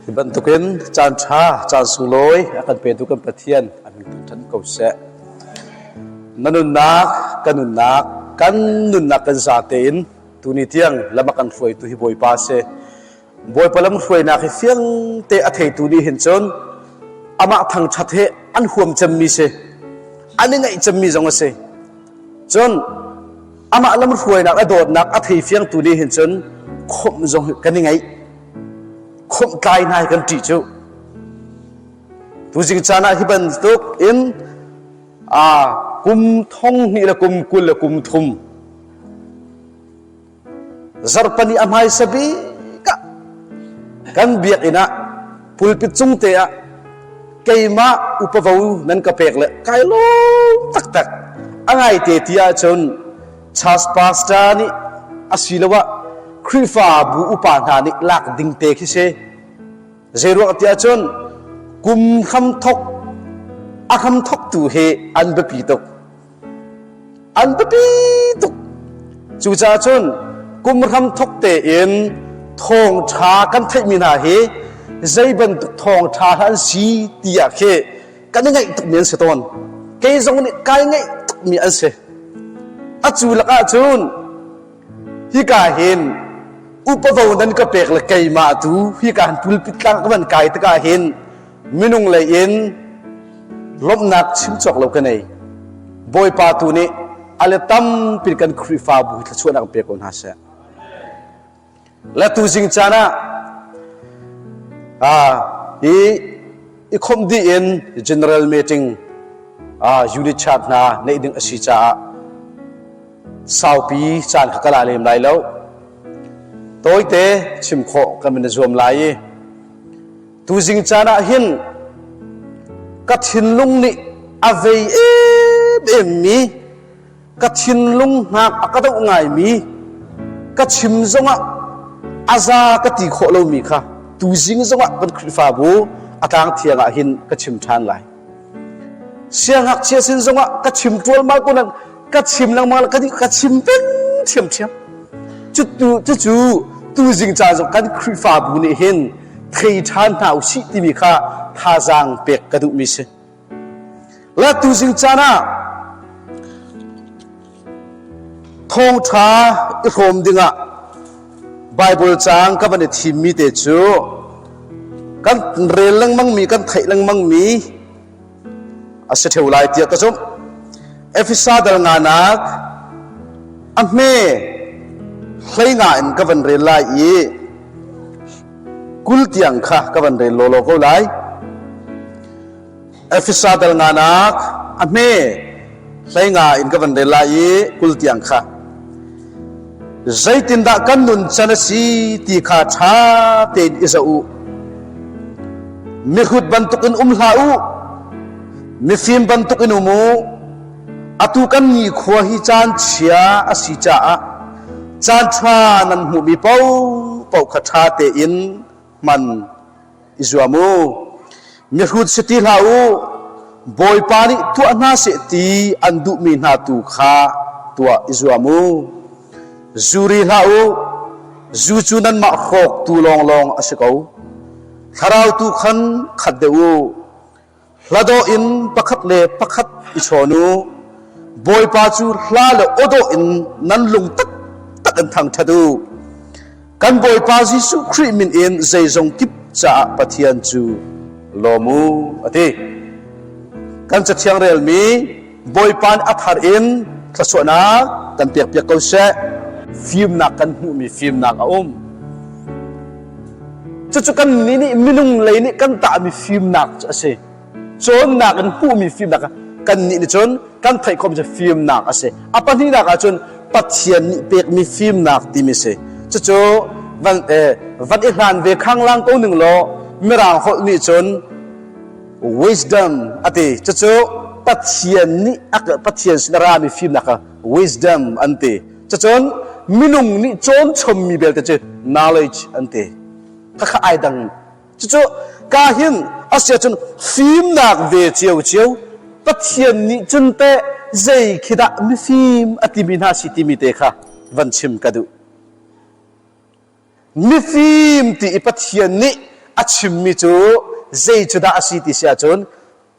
Hi bantukin caan ṭha, caan sunglawi a kan petu kan Pathian an kan ṭhan ko seh. Na nunnak, kan nunnak, kan nunnak kan zate in tuni tiang lama kan hruaitu hi Bawipa a si. Bawipa lamhruainak hi fiang te a theitu nih hin cun amah thangṭhat hi an huam cemmi si an i ngaih cemmi zong a si cun amah lamhruainak a dawtnak a thei fiangtu nih hin cun khawmh zong kan i ngaih khawmh tlai hna hi kan ṭih cu tuzing caan ah hi bantuk in aa kum thong hnih le kum kul le kum thum zarhpani a hmaisa bik ah kan biakinn ah pulpit cung te ah keimah upavo nan ka pek le kai lawm taktak a ngaite ti ahcun church pastor nih asiloah Khrihfabu upa hna nih lak ding te khi si zeiruak ti ahcun kum hram thok a hram thok tu hi an biapi tuk an biapi tuk cucaah cun kum ram thok tein thawngṭha kan theihmi hna hi zei bantuk thawngṭha hlah an si tiah khi kan i ngaih tukmi an si tawn kei zong nih kai ngaih tukmi an si a cu lakah cun hika hin upavo nan ka pek le keimah tu hika han pulpit tlang ka van kai tikah hin minung lei in lawmhnak chim cawk lo ka nei bawipa tu nih ale tampi kan khrihfabu thluachuah an pe ko hna seh la tu jing caan ah ah i i khom dih in general meeting ah unit chart hna neih ding asi caah saupi caan kha kala lem lai lo tawite chim khawh kan min zuam lai i Tuzing caan ah hin ka thinlung nih a vei em em mi ka thinlung hnak a ka doh ngai mi ka chim zongah a za ka ti khawh lomi kha tuzing zongah kan Khrihfabu a tlang thiang ah hin ka chim ṭhan lai. siangngakchia sin zongah ka chim ṭualmal ko nan ka chim lengmang ka ka chim peng ṭhiamṭhiam cutu cucu tuzing ca zong kan Khrihfabu nih hin thei ṭhan hna u sih timi kha thazaang pek ka duhmi si. Le tuzing caan ah Thawngṭha i hrawm dingah Baibal caang ka van i thimmi te cu kan rel lengmangmi, kan theih lengmangmi a si ṭheu lai tiah ka zumh. Efesa dal nganak a hme hleinga in ka van rel lai i kul tiang kha ka van rel lawlaw ko lai. Efesa dal nganak a hme hleinga in ka van rel lai i kul tiang kha zeitindah kan nun chan a si ti kha ṭha tein i zoh u. Mihrut bantukin um hlah u, mifim bantukin um u. Atu kan nikhua hi caan chia a si caah caan ṭha nan hmuhmi paoh paoh kha ṭha tein man i zuam u. Mihrut si ti hlah u, Bawipa nih tuah hna seh ti an duhmi hna tu kha tuah i zuam u. Zuri hlah u, zu cu nanmah hrawktu lawnglawng a si ko. Thlarau tu khan khat deuh u. Hladawh in pakhat le pakhat i chawn u. Bawipa cu hla le awdawh in nan lung taktak in thangṭhat u. Kan Bawipa Jesuh Khrih min in zeizong kip caah Pathian cu lawm u, a ti. Kan Cathiang relmi Bawipa nih a thar in thluachuahnak kan pekpiak ko seh. Fimnak kan hmuhmi fimnak a um. Cucu kan nih nih minung lei nih kan tahmi fimnak a si. Cawnnak in hmuhmi fimnak kan nih nih cun kan theih khawm cu fimnak a si. A pahnihnak ah cun Pathian nih pekmi fimnak timi si. Cucu van, eh, van i hlan ve khang lang ko ning law mirang holh nih cun wisdom ati cucu pathian nih pathian sin a rami fimnak kha wisdom an ti cucun minung nih cawn chommi belte cu knowledge an ti khakha ai dang cucu ka hin asia cun fimnak ve cio cio pathian nih cun te zei khidah mifim atimi hna si timi te kha van chim ka duh mifim ti i Pathian nih a chimmi cu zei cu dah a si ti si ahcun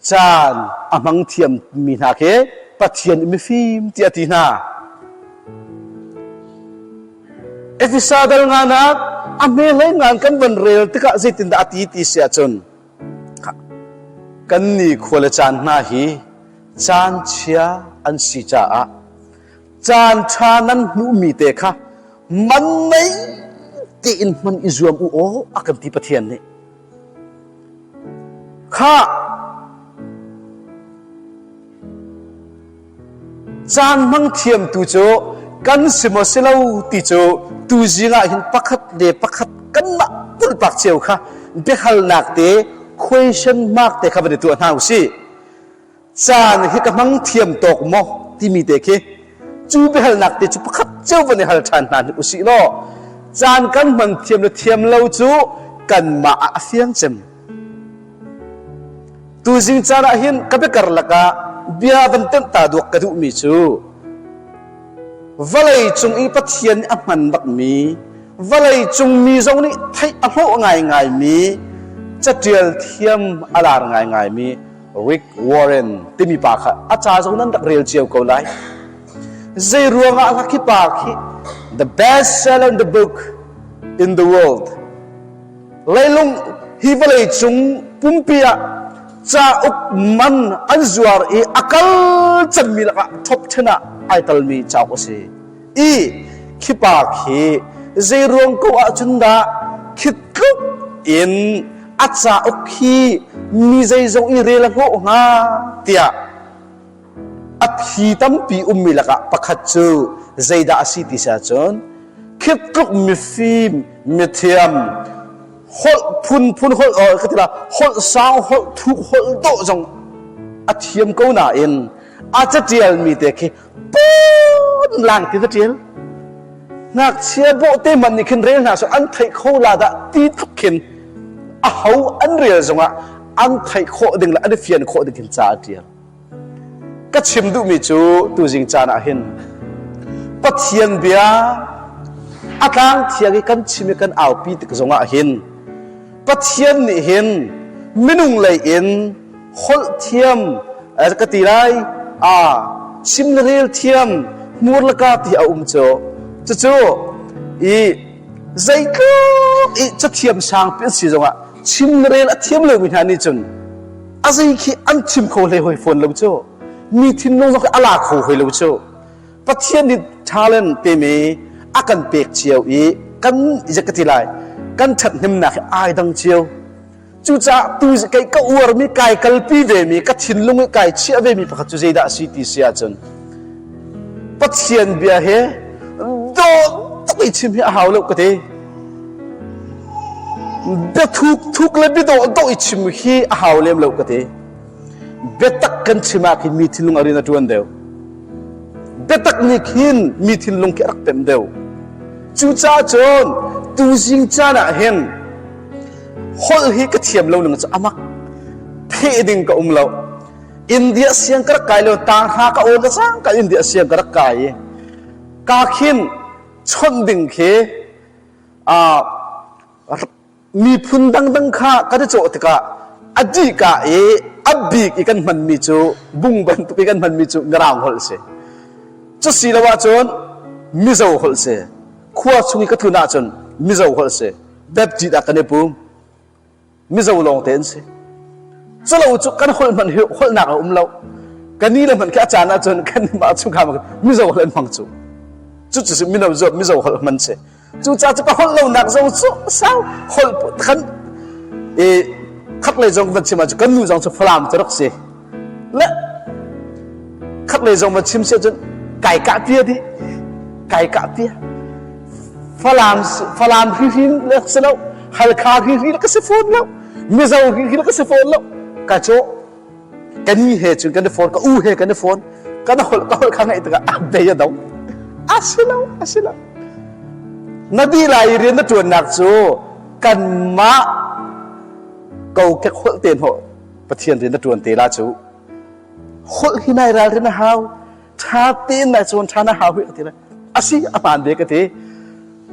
caan a hmang thiammi hna khi Pathian i mifim ti a ti hna. Efesa dal nganak a hmelei ngan kan van rel tikah zeitindah a ti ti si ahcun kan ni khua le caan hna hi caan chia an si caah Caanṭha nan hmuhmi te kha mannei tein hman i zuam u aw, a kan ti Pathian nih. Khah! Caan hmang thiamtu cu kan si maw si lo ti cu tu zingah hin pakhat le pakhat kanmah pulpak cio kha biahalnak te question mark te kha van i tuah hna u sih. caan hi ka hmang thiam tawk maw timi te khi cu biahalnak te cu pakhat cio van i hal ṭhan hna hi usih law caan kan hman thiam le thiam lo cu kanmah ah a fiang cem tuzing caan ah hin ka biakar lakah bia van tenh ta duak ka duhmi cu vawlei cung i pathian nih a hman bakmi vawlei cung mi zong nih theih a hlawh ngaingaimi caṭial thiam a lar ngaingaimi Rick Warren timi pa kha a ca zong nan rak rel cio ko lai. Zei ruangah hlah khi pa khi the best seller in the book in the world. Leilung hi vawlei cung pumpi ah cauk man an zuar i a kal cangmi lakah top 10 ah ai talmi cauk a si. i khipa khi zeiruang ko ahcun dah khitluk in a cauk hi mi zeizong i rel a hnawh hnga tiah a thi tampi ummi lakah pakhat cu zeidah a si ti sa cun khitluk mifim mithiam holh phunphun holh ka tila holh sang holh thuk holh do zong a thiam ko nain a catialmi te khi pun lang ti ka tial ngakchia boh te man nih khin rel hna so an theih kho la dah ti thup khin a ho an rel zongah an theih khawh ding le an i fian khawh ding khin ca a tial ka chim duhmi cu tu zing caan ah hin pathian bia a tlang thiang i kan chim i kan aupi tik zongah hin pathian nih hin minung lei in holh thiam ka ti lai a sim le rel thiam hmur le ka ti a um cu cucu i zeitluk i cathiam sang pi si zongah chim le rel a thiam lomi hna nih cun a zei khi an chim kho hlei hoi fawn lo cu mi thinlung zong a la kho hoi lo cu pathian nih talent teme a kan pek cio i kan ka ti lai kan ṭhat hnemnak hi ai dang cio cucaah tu kei ka uarmi kai kalpi vemi ka thinlung i kai chiah vemi pakhat cu zeidah a si ti si ahcun pathian bia he dawt tak i chim hi a hau lo ka te bia thuk thuk le bidawh dawh i chim hi a hau lem lo ka te biatak kan chimah khin mi thinlung a rin a tuan deuh biatak nih khin mi thinlung khi a rak tem deuh cucaah cun tuzing caan ah hin holh hi ka thiam lo ning cu amak pheh ding ka um lo india siang ka rak kai lo ta hra ka ol ka sang ka india siang ka rak kai i ka khin chon ding khi a miphun dangdang kha ka te chaw tikah adi ka i abik i kan hman mi cu bung bantuk i kan hman mi cu ngaraung holh si cu si lo ahcun mizo holh si khua chung i ka thun ahcun mizo holh si baptist ah kan i pum mizo lawng te an si culo cu kan holh hmanh holhnak a um lo kan ni le hmanh khi a caan ah cun kan mah chungkhar mizo holh an hmang cu cu cu mino zuat mizo holh hman si cu ca cu ka holh lonak zong cu sau holh kan e khak le zong van chima cu kan nu zong cu falam cu rak si le khaklei zong va chim si cun kai kah tia dih kai kah tia falam falam hrihril le si lo halkha hrihril ka si fawn lo mizo hrihril ka si fawn lo ka cho ka ni he cun kan i phone ka u he kan i phone kan holh ka holh kha ngaih tikah a bei a do a si lo a si lo na ti lai i rian na tuannak cu kan mah kokek holh te no Pathian rian na ṭuan te la cu holh hi nai ralrin a hau ṭha tein nai chuan ṭha na hau hi ka ti le a si a hmaan ve ka ti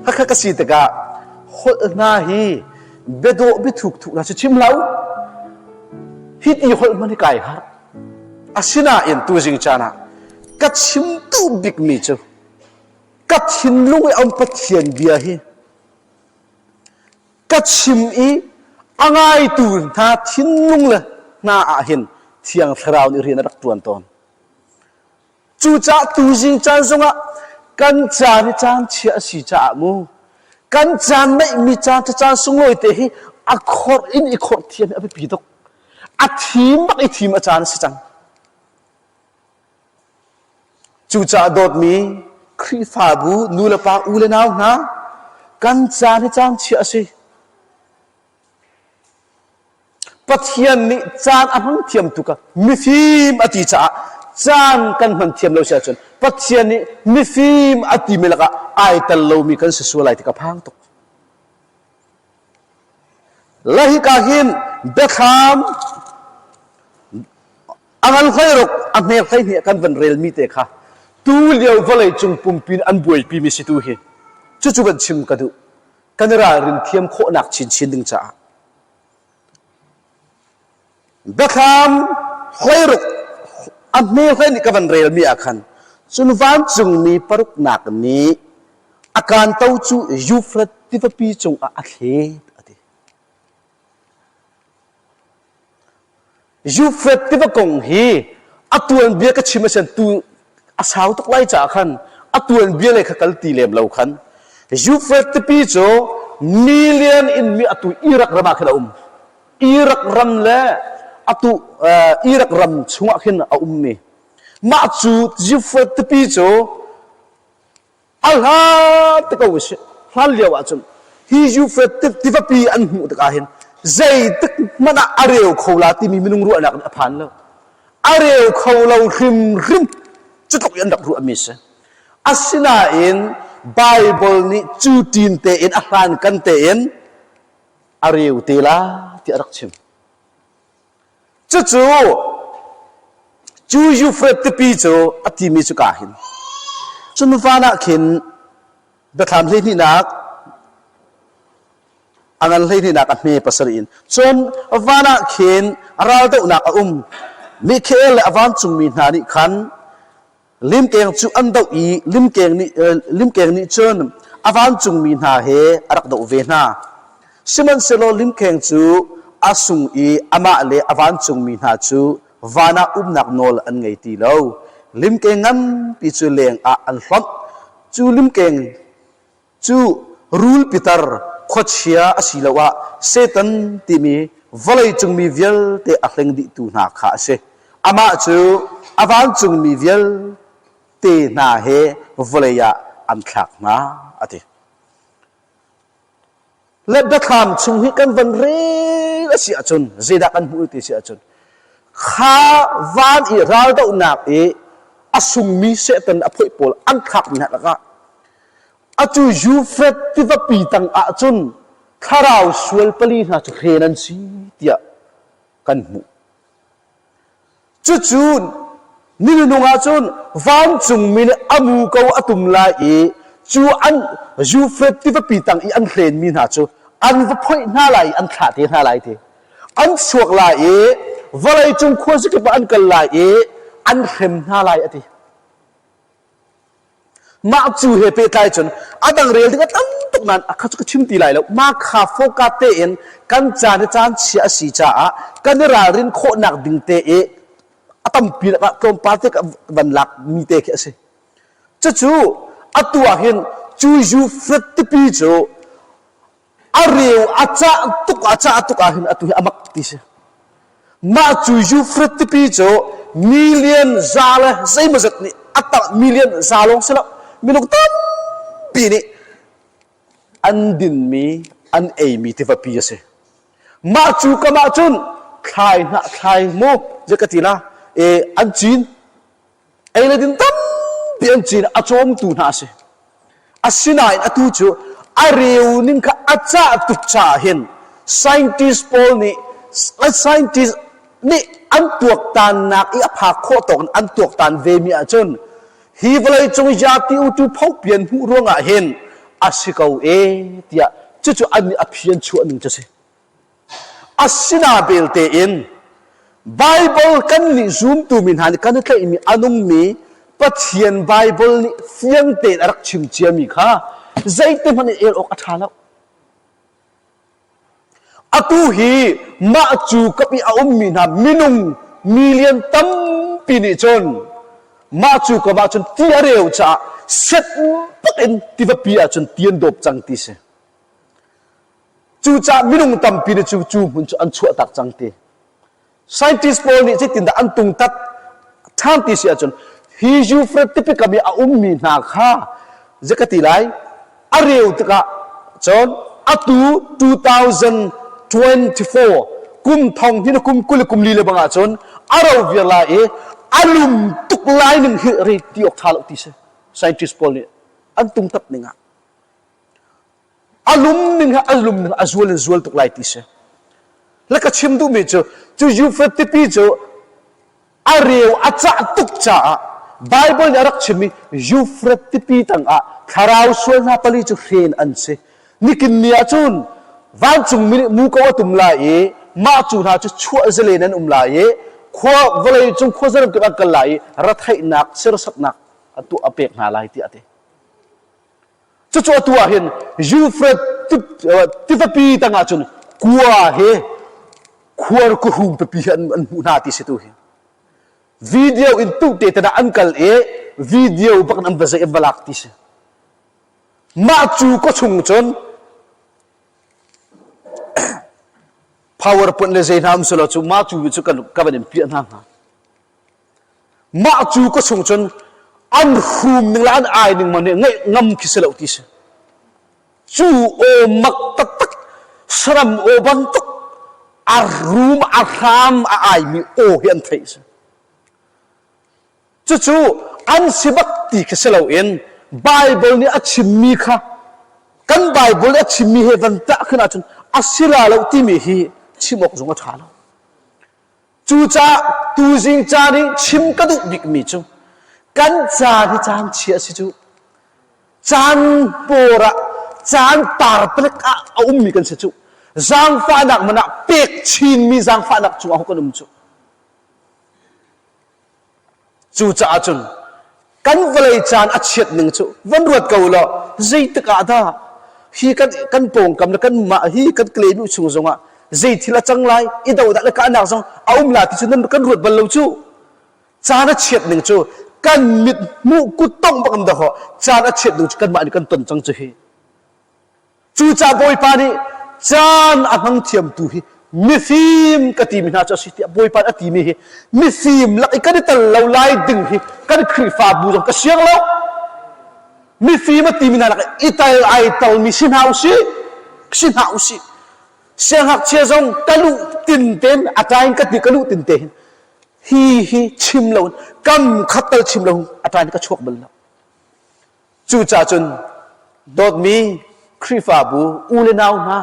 hakha ka si tikah holh hna hi biadawh biathuk thuk la cu chim lo hit i holh man hi kai har asinain tuzing caan ah ka chim tu bikmi cu ka thinlung i am pathian bia hi ka chim i a ngaitu hna thinlung le hna ah hin thiang thlarau nih rian a rak ṭuan tawn cucaah tuzing caan zongah kan caan i caan chia a si caah mu kan caan neihmi caan cacaan sunglawi te hi a khorh in i khorh thiam hi a biapi tuk a thim bak i thim a caan a si cang Cucaah dawtmi Khrihfabu nulepa u le nau hna, kan caan hi caan chia a si. Pathian nih caan a hmang thiam tuk ah mifim a ti caah caan kan hman thiam lo si ahcun Pathian nih mifim a timi lakah ai tel lomi kan si sual lai ti ka phang tuk. Le hika hin biathlam a ngan hloiruk a hnek hleihnih kan van relmi te kha tu lio vawleicung pumpi in an buaipimi si tu hi cucu van chim ka duh kan i ralrin thiam khawhnak chinchin ding caah biathlam hoi ruk a hme hoi nih ka van relmi ah khan cun vancungmi paruknak nih a kanto cu Yuflet tivapi cungah a thlet a ti. Yuflet tiva kong hi a tuanbia ka chim a sian tu a sau tuk lai caah khan a tuanbia lei kha kal ti lem lo khan Euphrates tipi cu million in mi atu Iraq ram ah khin a um Iraq ram le atu Iraq ram chungah khin a ummi mah cu Euphrates tipi cu A hlat te ko usih. Hlan lio ahcun hi Yufrate tivapi an hmuh tikah hin zeitik hmanh ah a reu kho la timi minung ruahnak nih a phan lo. A reu kho lo hrimhrim cutluk in an rak ruahmi si. Asinain Bible nih cu tin tein a hlan kan tein a reu te la ti a rak chim. Cucu cu Yufrate tipi cu a timi cu ka hin. Cu nu van ah khin biathlam hlehnihnak a ngan hlehnihnak a hme pasarih in cun van ah khin raldohnak a um. Mikhael le a vancungmi hna nih khan limkeng cu an doh i limkeng nih limkeng nih cun a vancungmi hna he a rak doh ve hna. Sihmanhsehlaw limkheng cu a sung i amah le a vancungmi hna cu van ah umnak nawl an ngei ti lo. Limkeng nganpi cu leng ah an hlonh. Cu limkeng Cu rul pitar khuachia asiloah Satan timi vawleicungmi vialte a hleng dihtu hna kha a si. Amah cu a vancungmi vialte hna he vawlei ah an thlak hna, a ti. le biathlam chung hi kan van rel a si ahcun zeidah kan hmuh ti si ahcun kha van i raldohnak i a sungmi setan a phoih pawl an thlakmi hna lakah atu Jufet tivapi tang ahcun thlarau sual pali hna cu hren an si tiah kan hmuh. Cucu nilnung ahcun vancungmi nih a muko a tum lai i cu an Jufreth tivapi tang i an hlenmi hna cu an va phoih hna lai i an thlah te hna lai ti. An chuak lai i vawleicung khuazakip ah an kal lai i an hrem hna lai a ti. Mah cu he pehtlai cun a dang rel ding a tam tuk nain a kha cu ka chim ti lai lo. Mah kha foka tein kan caan le caan chia a si caah kan i ralrin khawhnak ding te i a tampi lakah tlawmpal te van lak mi te khi a si. Cucu atu ah hin cu Yufrate tipi cu A reu a cah tuk a cah tuk ahhin atu hi a mak tuk ti si. Mah cu Eufrat tipi cu million za le zeimawzat nih a tangh million za lawng si lo minung tampi nih an dinmi an eimi tivapi a si. Mah cu kamah cun thlai hnah thlai mu je ka ti na e an cin ei le din tampi an cin a cawmtu hna a si asinain atu cu a reu ning kha a cah tuk caah hin scientist pawl nih scientist nih an tuaktannak i a phak khawh tawk in an tuaktan vemi ahcun hi vawleicung zapi utu phopian hmuh ruangah hin a si ko e tiah cucu an nih a phian chuah ning cu a si Asina belte in Baibal kan nih zumtumi hna nih kan i tlaihmi a nungmi Pathian Baibal nih fiang tein a rak chim ciami kha zeitihmanh in el awk a ṭha lo. Atu hi mah cu ka pi a ummi hna minung million tampi nih cun mah cu kamah cun ti a reu caah set tak in tivapi ah cun ti an dawp cang ti si. Cucaah minung tampi nih cu cu hmun cu an chuahtak cang ti. Scientist pawl nih zeitindah an tungtat ṭhan ti si ahcun hi Euphrat tipikam i a ummi hna kha zei ka ti lai a reu tikah cun atu 2024 kum thong hnih kum kul le kum li le bang ahcun a ro viar lai i a lum tuk lai ning hi rei ti awk ṭha lo ti si. Scientist pawl nih an tungtat ning ah. a lum ning a lum ning a zual in zual tuk lai ti si la ka chim duhmi cu cu Yufet tipi cu a reu a cah tuk caah Bible nih a rak chimmi Yufret tipi tangah thlarau sual hna pali cu hren an si nikin ni ahcun vancungmi nih muko a tum lai i mah cu hna cu chuah zelen an um lai i khua vawlei cung khua zaremtuk an kal lai i ratheihnak sirsaknak a tuah a pek hna lai tiah a ti Cucu atu ah hin Euphrates tivapi tangah cun kua he khuarkuhrum pipi hi an, an hmuh hna ti si tu hi video in tuhte tedah an kal i video bak an va zei an va lak ti si mah cu ko chung cun powerpoint le zei hna um selo cu ma cu cu kan ka van in piah hna hnga Mah cu ka chung cun an hrum ning le an ai ning man ngaih ngam khi si lo ti si. Cu aw mak taktak, saram aw bantuk, a rum, a hram, a aimi aw hi an theih si. Cucu an si bak ti khi si loin Bible nih a chimmi kha kan Bible nih a chimmi he van tah khin ahcun a si la lo timi hi chim awk zong a ṭha lo. Cucah tuzing caan in chim ka duh bikmi cu kan caan hi caan chia a si cu. Caan pawr ah, caan tar palik ah a ummi kan si cu. Zaangfahnak man ah pek chinmi zaangfahnak cu aho kan um cu. Cucaah cun kan vawlei caan a chiat ning cu van ruat ko law zeitik ah dah hi kan kan pawngkam le kan mah hi kan claim u chung zongah zei thil a cang lai i do dah le kahnak zong a um la ti cu nan kan ruat bal lo cu caan a chiat ning cu kan mit hmuh kuttong bang am dahawh caan a chiat ning cu kanmah nih kan ton cang cu hi Cucaah Bawipa nih caan a hmang thiamtu hi mifim ka timi hna cu a si tiah Bawipa nih a timi hi mifim lak i kan i tel lo lai ding hi kan Khrihfabu zong ka siang lo mifim a timi hna lak i tel ai telmi si hna usih si hna usih siangakchia zong ka luh tinte in a tain ka ti ka luh tinte hin hi hi chim lo kam khat tal chim lo a tain ka chuak bal lo Cucah cun dawtmi Khrihfabu u le nau hna,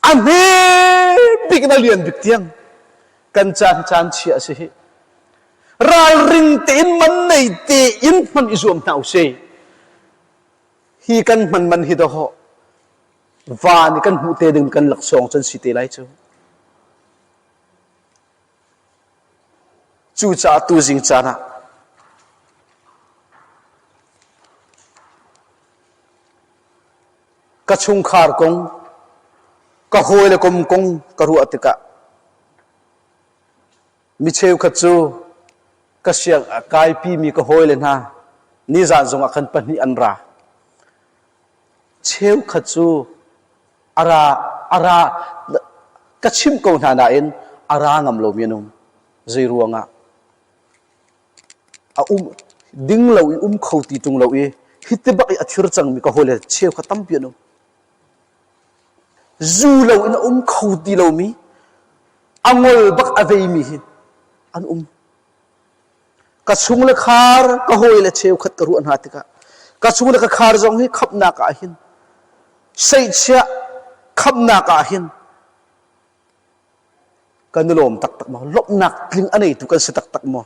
a hme bik le lian bik tiang kan caan caan chia a si hi. Ralring tein man nei tein hman i zuam hna u si. Hi kan man man hi dawh van i kan hmuh te ding kan laksawng cun si te lai cu. Cucaah tuzing caan ah ka chungkhar kong, ka hawi le kom kong ka ruah tikah mi cheukhat cu ka siang kaipimi ka hawile hna nizaan zongah khan pahnih an ra. Cheukhat cu a ra a ra ka chimh ko hna nain a ra ngam lomi an um zei ruangah a um ding lo i um kho ti tung lo i hi ti bak i a thir cangmi ka hawile cheu kha tampi an um zu lo in a um kho ti lomi a ngol bak a veimi hi an um ka chung le khar ka hawi le cheukhat ka ruah hna tikah ka chung le ka khar zong hi khamnak ah hin seihchiah khamnak ah hin kan i lawm taktak maw lawmhnak tling a neitu kan si taktak maw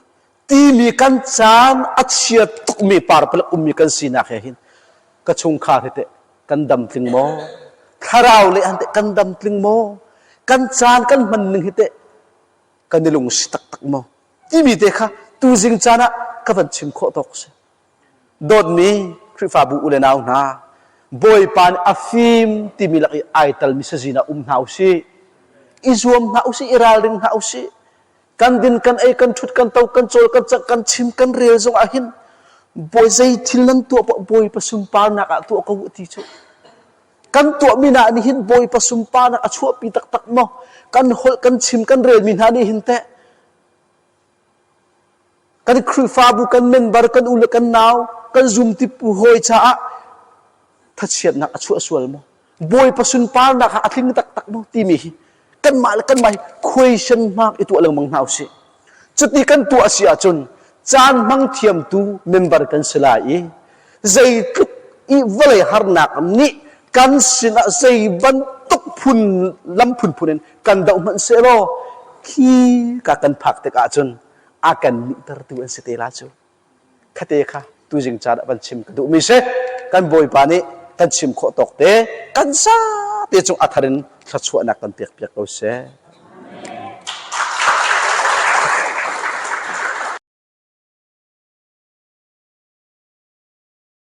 timi kan caan a chia tukmi parpalak ummi kan sinak he hin ka chungkhar hi teh kan dam tling maw thlarau le han teh kan dam tling maw kan caan kan hman ning hi teh kan i lungsi taktak maw timi te kha tuzing caan ah ka van chim khawh tawk si dawtmi khrihfabu u le nau hna bawipa nih a fim timi lak i ai talmi sazin ah um hna usih i zuam hna usih i ralring hna usih kan din kan ei kan thut kan to kan cawl kan cak kan chim kan rel zong ah hin bawi zei thil nan tuah bawipa sunparnak ah tuah ko ti cu Kan tuahmi hna nih hin Bawipa sunparnak a chuahpi taktak maw? Kan holh, kan chim, kan relmi hna nih hin teh kan Khrihfabu, kan member, kan u le kan nau, kan zumtipu hawi caah thachiatnak a chuah sual maw? Bawipa sunparnak a tling taktak maw? timi hi kanmah le kanmah hi question mark i tuah lengmang hna usih. Cuti kan tuah si ahcun caan hmang thiamtu member kan si lai i zeitluk i vawlei harnak nih kan sinah zei bantuk phun lam phunphun in kan doh hmanh sehlaw khi ka kan phak tik ahcun a kan nihter tu an si te la cu. Khate kha tuzing caan ah van chim ka duhmi si. Kan bawipa nih kan chim khawh tawk te kan sa te cung a thar in thluachuahnak kan pek piak ko seh.